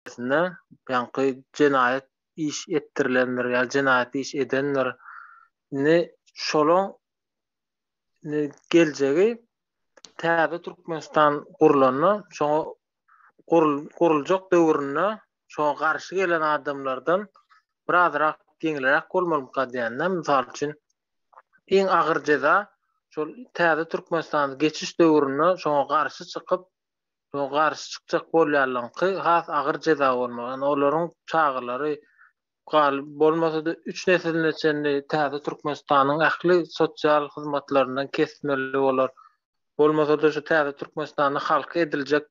Netijesinde, ýaňky jenaýat iş etdirilendir ýa jenaýat iş edendir. Indi şolaň indi geljegi täze Türkmenistan gurlanda, şoňa guruljak döwründe şoňa garşy gelen adamlardan birazrak ýeňilräk bolmalymyka diýende, mysal üçin, iň agyr jeza şol täze Türkmenistana geçiş döwründe şoňa garşy çykyp, Şoňa garşy çykjak bolýanlaryňky has agyr jeza bolmaly. Ýöne olaryň çagalary galyp bolmasa-da üç nesline çenli täze Türkmenistanyň ähli sosial hyzmatlaryndan kesmeli bolar. Bolmasa-da şu täze Türkmenistanda halka ediljek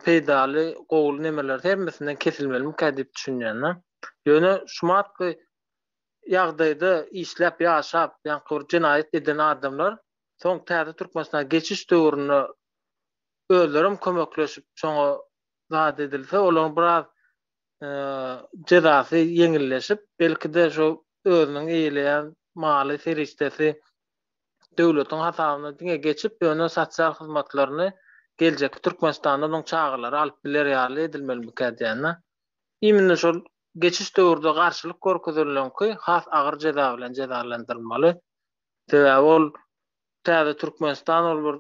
peýdaly gowy nemeler hemmesinden kesilmelimikä diýip düşünýänler. Ýöne şu matky ýagdaýda işläp ýaşap ýaňky bir jenaýat eden adamlar Soň täze Türkmenistana geçiş döwründe özlerem kömekleşip şoňa zat edilse olaryň biraz jezasy ýeňilleşip belkide şo özüniň eýeleýän maly serişdesi döwletiň hasabyna diňe geçip ýöne sosial hyzmatlaryny geljekki Türkmenistanda onuň çagalary alyp biler ýaly edilmelimikä diýýänä imini şol geçiş döwürde garşylyk görkezileniňki has agyr jeza bilen jezalandyrylmaly Sebäbi ol täze Türkmenistan ol bir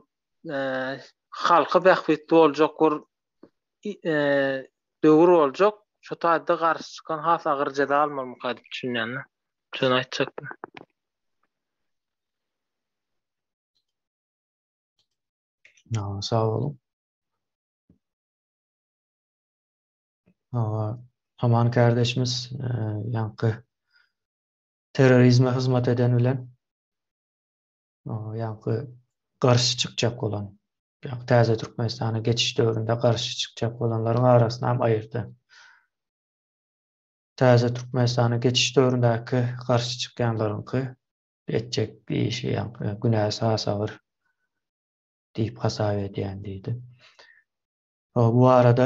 halka bähbitli boljak bir döwür boljak. Şu taýda garşy çykan has agyr jeza almalyka diýip düşünýän. Şuny aýtjakdym. Ýa, sag boluň. Aman kärdeşimiz ýaňky terrorizme hyzmat eden bilen ýaňky garşy çykjak bolan, ýaňky täze Türkmenistana geçiş döwründe garşy çykjak bolanlaryň arasyny hem aýyrdy. Täze Türkmenistana geçiş döwründäki garşy çykýanlaryňky etjek işi ýaňky günäsi has agyr diýip hasap edýän diýdi. Bu barada